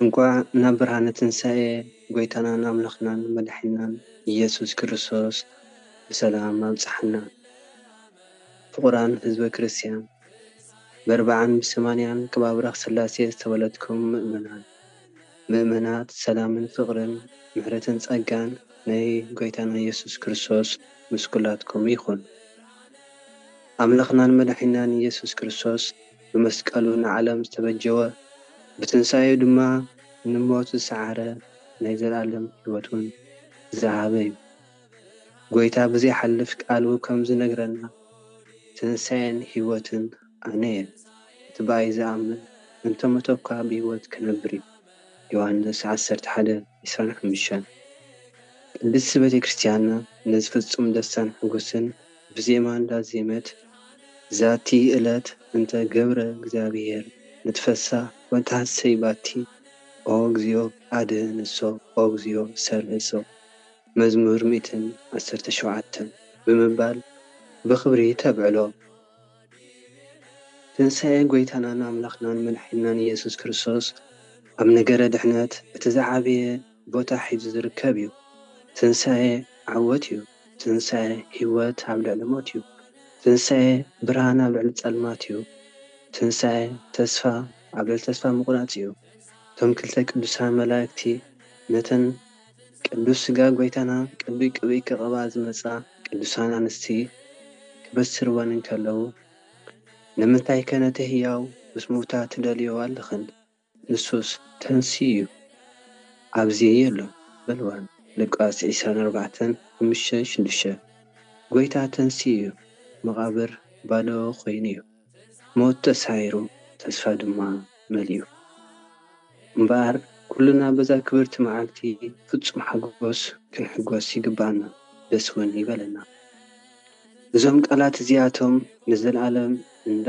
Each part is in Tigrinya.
እንኳዕ ናብ ብርሃነ ትንሳኤ ጎይታናን ኣምላኽናን መዳሕኒናን ኢየሱስ ክርስቶስ ብሰላም ኣብጽሓና። ፍቑራን ህዝበ ክርስቲያን በርብዓን ብሰማንያን ከባብረኽ ሥላሴ ዝተወለድኩም ምእመናን ምእመናት ሰላምን ፍቕርን ምሕረትን ጸጋን ናይ ጎይታና ኢየሱስ ክርስቶስ ምስ ኲላትኩም ይኹን። ኣምላኽናን መዳሕኒናን ኢየሱስ ክርስቶስ። ብመስቀሉ ንዓለም ዝተበጀወ፣ ብትንሳኤኡ ድማ ንሞት ዝሰዓረ ናይ ዘለኣለም ሕይወት'ውን ዝሃበ'ዩ። ጐይታ ብዘይሓልፍ ቃሉ ከም ዝነግረና ትንሳኤን ሕይወትን ኣነ'የ፣ እቲ ብኣይ ዝኣምን እንተ ሞተ'ኳ ብሕይወት ክነብር'ዩ፣ ዮሐንስ ዓሰርተ ሓደ፣ ዕስራን ሓሙሽተን። ቅድስቲ ቤተ ክርስቲያንና ነዚ ፍጹም ደስታን ሕጉስን፣ ብዜማ እንዳዜመት ዛቲ እለት እንተ ገብረ እግዚኣብሔር ንትፈሳ ወተሃሰይ ባቲ ኦ እግዚኦ ኣድህንሶ ኦ እግዚኦ ሠልህሶ መዝሙር ሚእትን ዓሰርተ ሸውዓተ ብምባል ብኽብሪ ተብዕሎ። ትንሣኤ ጐይታናን ኣምላኽናን መድሓኒናን ኢየሱስ ክርስቶስ ኣብ ነገረ ድኅነት እቲ ዝዓበየ ቦታ ሒዙ ዝርከብ እዩ። ትንሣኤ ዓወት እዩ። ትንሳኤ ህይወት ኣብ ልዕሊ ሞት እዩ። ትንሳኤ ብርሃን ኣብ ልዕሊ ጸልማት እዩ። ትንሳኤ ተስፋ ኣብ ልዕሊ ተስፋ ምቑራጽ እዩ። እቶም ክልተ ቅዱሳን መላእክቲ ነተን ቅዱስ ሥጋ ጐይታና ቅዱይ ቅብኢ ክቐብኣ ዝመጻ ቅዱሳን ኣንስቲ ክበስርወን እንከለዉ ንምንታይከ ነቲ ሕያው ምስ ምውታ ትደልይኦ ኣለኽን? ንሱስ ተንስኢ እዩ ኣብዚየ የሎ በልዋ ሉቃስ ዒስራን ኣርባዕተን ሓሙሽተ ሽዱሽተ ጎይታ ተንስኢ እዩ መቓብር ባዶ ኮይኑ እዩ ሞት ተሳዒሩ ተስፋ ድማ መሊኡ እምበኣር ኩልና በዛ ክብርቲ መዓልቲ ፍጹም ሓጎስ ክንሕጎስ ይግብኣና ደስ ውን ይበለና እዞም ቃላት እዚኣቶም ንዘልኣለም እንዳ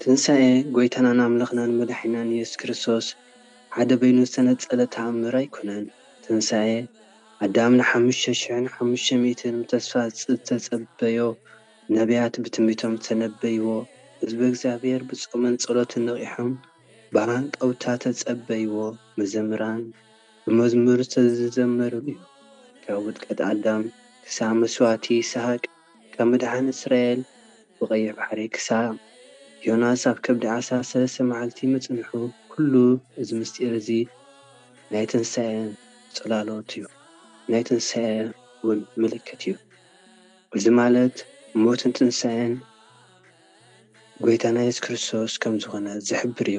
ትንሳኤ ጐይታናን ኣምላኽናን መዳሕኒናን የሱስ ክርስቶስ ሓደ በይኑ ዝተነጸለ ተኣምር ኣይኮነን። ትንሳኤ ኣዳም ንሓሙሽተ ሽሕን ሓሙሽተ ሚእትን ብተስፋ ዝተጸበዮ፣ ነብያት ብትንቢቶም ዝተነበይዎ፣ ህዝበ እግዚኣብሔር ብጾምን ጸሎትን ነቒሖም ብሃንቀውታ ዝተጸበይዎ፣ መዘምራን ብመዝሙር ዝተዘመረሉ'ዩ። ካብ ውድቀት ኣዳም ክሳብ መስዋእቲ ይስሃቅ፣ ካብ ምድሓን እስራኤል ብቐይሕ ባሕሪ ክሳብ ዮናስ ኣብ ከብዲ ዓሳ ሰለስተ መዓልቲ ምጽንሑ ኩሉ እዚ ምስጢር እዚ ናይ ትንሳኤ ጽላሎት እዩ ናይ ትንሳኤ ውን ምልክት እዩ እዚ ማለት ሞትን ትንሳኤን ጎይታና የሱስ ክርስቶስ ከም ዝኾነ ዝሕብር እዩ።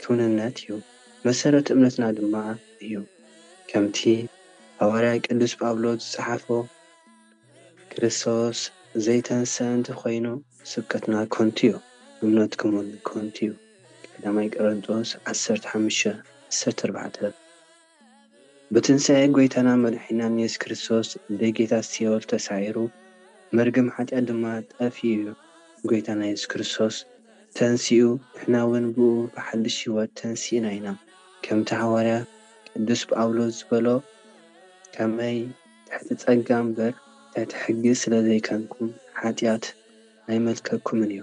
ክውንነት እዩ፣ መሰረት እምነትና ድማ እዩ። ከምቲ ሃዋርያ ቅዱስ ጳውሎስ ዝጸሓፎ ክርስቶስ ዘይተንሥኣ እንተ ኾይኑ ስብከትና ከንቱ'ዩ፣ እምነትኩም'ውን ከንቱ'ዩ፣ ቀዳማይ ቆረንጦስ ዓሰርተ ሓሙሽተ ዓሰርተ ኣርባዕተ። ብትንሳኤ ጎይታናን መድሓኒናን የሱስ ክርስቶስ ደጌታት ሲኦል ተሳዒሩ መርገም ሓጢኣት ድማ ጠፊኡ እዩ። ጎይታና የሱስ ክርስቶስ ተንሲኡ ንሕና ውን ብእኡ ብሓድሽ ሕይወት ተንሲእና ኢና። ከምቲ ሓዋርያ ቅዱስ ጳውሎስ ዝበሎ ከመይ ትሕቲ ጸጋ እምበር ትሕቲ ሕጊ ስለ ዘይከንኩም ሓጢኣት ኣይመልከኩምን እዩ።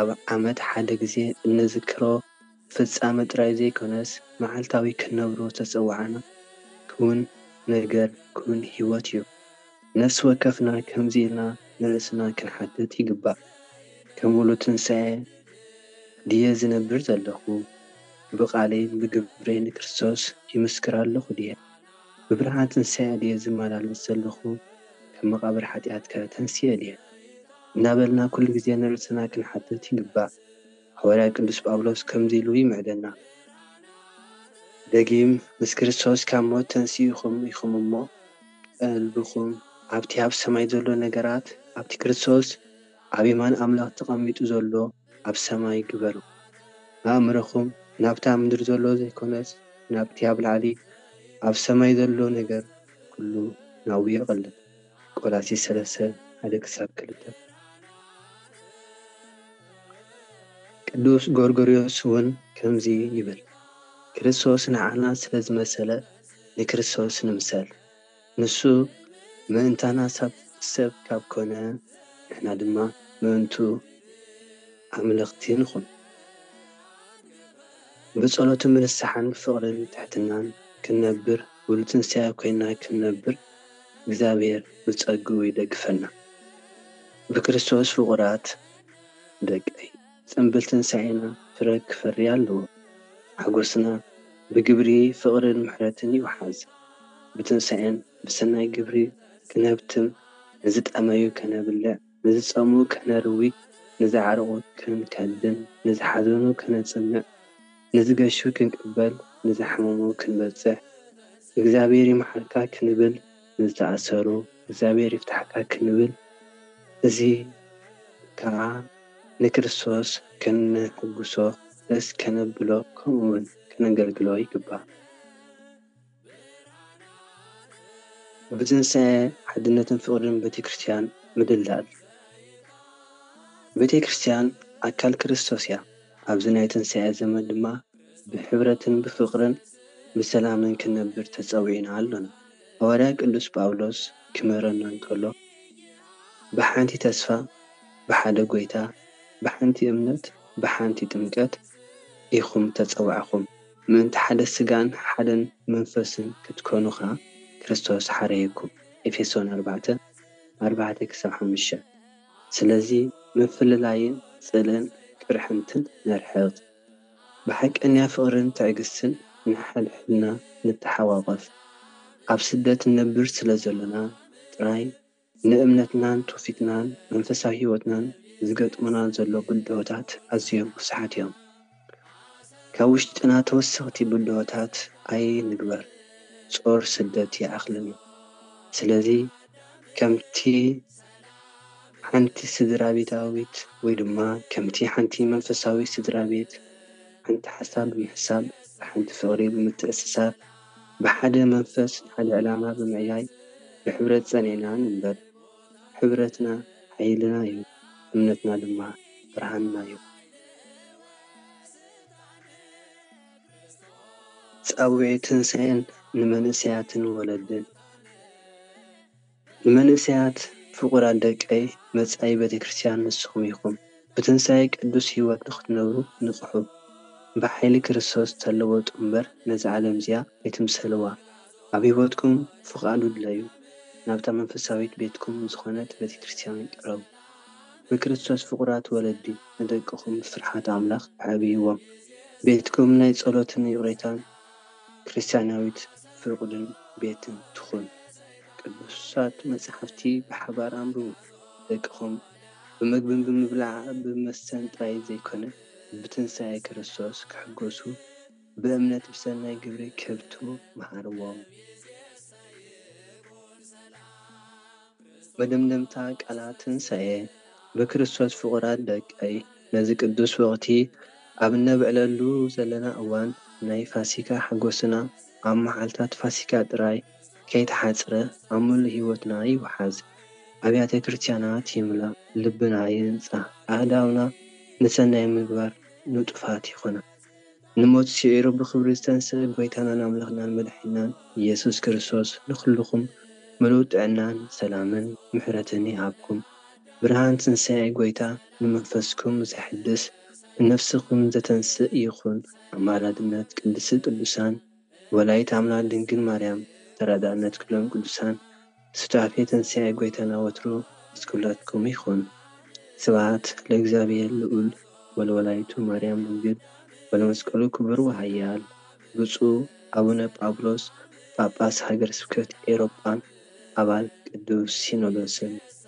ኣብ ዓመት ሓደ ግዜ እንዝክሮ ፍጻመ ጥራይ ዘይኮነስ መዓልታዊ ክንነብሮ ዝተጸዋዕና ክዉን ነገር፣ ክዉን ህይወት እዩ። ነፍሲ ወከፍና ከምዚ ኢልና ንርእስና ክንሓትት ይግባእ፣ ከም ወልዶ ትንሳኤ ድየ ዝነብር ዘለኹ? ብቓለይን ብግብረይን ንክርስቶስ ይምስክር ኣለኹ ድየ? ብብርሃን ትንሳኤ ድየ ዝመላለስ ዘለኹ ካብ መቓብር ሓጢኣትከ ተንሲኤ ድየ እናበልና ኩሉ ግዜ ንርእስና ክንሓትት ይግባእ ሃዋርያ ቅዱስ ጳውሎስ ከምዚ ኢሉ ይምዕደና ደጊም ምስ ክርስቶስ ካብ ሞት ተንሲእኹም ኢኹም እሞ ቀልብኹም ኣብቲ ኣብ ሰማይ ዘሎ ነገራት ኣብቲ ክርስቶስ ኣብ የማን ኣምላኽ ተቐሚጡ ዘሎ ኣብ ሰማይ ግበሩ ኣእምሮኹም ናብታ ምድሪ ዘሎ ዘይኮነስ ናብቲ ኣብ ላዕሊ ኣብ ሰማይ ዘሎ ነገር ኩሉ ናብኡ የቕልብ ቆላሲስ ሰለስተ ሓደ ክሳብ ክልተ። ቅዱስ ጎርጎርዮስ እውን ከምዚ ይብል ክርስቶስ ንዓና ስለ ዝመሰለ ንክርስቶስ ንምሰል። ንሱ ምእንታና ሰብ ካብ ኮነ፣ ንሕና ድማ ምእንቱ ኣምለኽቲ ንኹን። ብጸሎትን ብንስሓን ብፍቕርን ትሕትናን ክንነብር ብሉ ትንሳኤ ኮይንና ክንነብር እግዚኣብሔር ብጸግኡ ይደግፈና። ብክርስቶስ ፍቑራት ደቀይ! ጽምብል ትንሳኤና ፍረ ክፈሪ ኣለዎ። ሓጎስና ብግብሪ ፍቕርን ምሕረትን ይውሓዝ። ብትንሳኤን ብሰናይ ግብሪ ክነብትም፣ ንዝጠመዩ ከነብልዕ፣ ንዝጸምኡ ከነርዊ፣ ንዝዓርቁ ክንከድን፣ ንዝሓዘኑ ከነጽንዕ፣ ንዝገሹ ክንቅበል፣ ንዝሓመሙ ክንበጽሕ፣ እግዚኣብሔር ይምሓርካ ክንብል፣ ንዝተኣሰሩ እግዚኣብሔር ይፍታሕካ ክንብል እዚ ከኣ ንክርስቶስ ከነሕጉሶ ደስ ከነብሎ ከምኡ ውን ከነገልግሎ ይግባእ። ብትንሳኤ ሓድነትን ፍቅርን ቤተ ክርስትያን ምድልዳል። ቤተ ክርስትያን ኣካል ክርስቶስ እያ ኣብዚ ናይ ትንሳኤ ዘመን ድማ፣ ብሕብረትን ብፍቕርን ብሰላምን ክንነብር ተጸዊዕና ኣሎና። ሃዋርያ ቅዱስ ጳውሎስ ክምህረና እንከሎ ብሓንቲ ተስፋ ብሓደ ጐይታ ብሓንቲ እምነት ብሓንቲ ጥምቀት ኢኹም እተጸዋዕኩም። ምእንቲ ሓደ ስጋን ሓደ መንፈስን ክትኮኑ ከኣ ክርስቶስ ሓረየኩም፣ ኤፌሶን ኣርባዕተ፣ ኣርባዕተ ክሳብ ሓሙሽተ። ስለዚ ምፍልላይን ጽልእን ቅርሕንትን ነርሕቕ። ብሓቀኛ ፍቕርን ትዕግስትን ንሓድሕድና ንተሓቛቖፍ። ኣብ ስደት ንነብር ስለ ዘሎና ጥራይ ንእምነትናን ትውፊትናን መንፈሳዊ ህይወትናን ዝገጥሙና ዘሎ ብድሆታት ኣዝዮም ብዙሓት እዮም። ካብ ውሽጥና ተወሰኽቲ ብድሆታት ኣይንግበር ጾር ስደት ይኣኽለና። ስለዚ ከምቲ። ሓንቲ ስድራቤታዊት ወይ ድማ ከምቲ ሓንቲ መንፈሳዊት ስድራቤት ሓንቲ ሓሳብ ብምሕሳብ ብሓንቲ ፍቕሪ ብምትእስሳር ብሓደ መንፈስ ንሓደ ዕላማ ብምዕያይ ብሕብረት ጸኒዕና ንንበር። ሕብረትና ሓይልና'ዩ እምነትና ድማ ብርሃንና'ዩ። ጻውዒት ትንሳኤ ንመንእሰያትን ወለድን! ንመንእሰያት ፍቑራት ደቀይ መጻኢ ቤተክርስትያን ንስኹም ኢኹም። ብትንሳኤ ቅዱስ ሕይወት ንኽትነብሩ ንቕሑ። ብኃይሊ ክርስቶስ ተለወጡ እምበር ነዛ ዓለም እዚኣ ኣይትምሰልዋ። ኣብ ሕይወትኩም ፍቓዱ ድለዩ። ናብታ መንፈሳዊት ቤትኩም ዝኾነት ቤተክርስትያን ቅረቡ። ንክርስቶስ ፍቑራት ወለዲ ንደቅኹም ብፍርሓተ ኣምላኽ ኣዕብይዎም። ቤትኩም ናይ ጸሎትን ይቕሬታን ክርስትያናዊት ፍቕዱን ቤትን ትኹን። ቅዱሳት መጻሕፍቲ ብሓባር ኣንብቡ። ደቅኹም ብመግብን ብምብላዕ ብመስተን ጥራይ ዘይኮነ፣ ብትንሳኤ ክርስቶስ ክሕጎሱ፣ ብእምነት ብሰናይ ግብሪ ክህብቱ መሃርዎም። መደምደምታ ቃላት ትንሳኤ ብክርስቶስ ፍቑራት ደቀይ፣ ነዚ ቅዱስ ወቕቲ ኣብ እነብዕለሉ ዘለና እዋን ናይ ፋሲካ ሓጎስና ኣብ መዓልታት ፋሲካ ጥራይ፣ ከይተሓጽረ ኣብ ምሉእ ሕይወትና ይውሓዝ፣ ኣብያተ ክርስቲያናት ይምላእ፣ ልብና ይንጻህ፣ ኣእዳውና ንሠናይ ምግባር ንጡፋት ይኹና። ንሞት ስዒሩ ብኽብሪ ዝተንሥኣ ጐይታናን ኣምላኽናን መድኃኒናን ኢየሱስ ክርስቶስ ንኹልኹም ምሉእ ጥዕናን ሰላምን ምሕረትን ይሃብኩም። ብርሃን ትንሣኤ ጐይታ ንመንፈስኩም ዘሕድስ ንነፍስኹም ዘተንሥእ ይኹን። ኣማላድነት ቅድስት ቅዱሳን። ወላዲት ኣምላክ ድንግል ማርያም ተራዳእነት ክሎም ቅዱሳን ሱታፌ ትንሳኤ ጎይታና ወትሩ ምስ ኩላትኩም ይኩን ስብሃት ለእግዚኣብሔር ልኡል ወለወላዲቱ ማርያም ድንግል ወለመስቀሉ ክቡር ወሃያል ብጹእ ኣቡነ ጳውሎስ ጳጳስ ሃገረ ስብከት ኤሮጳን ኣባል ቅዱስ ሲኖዶስን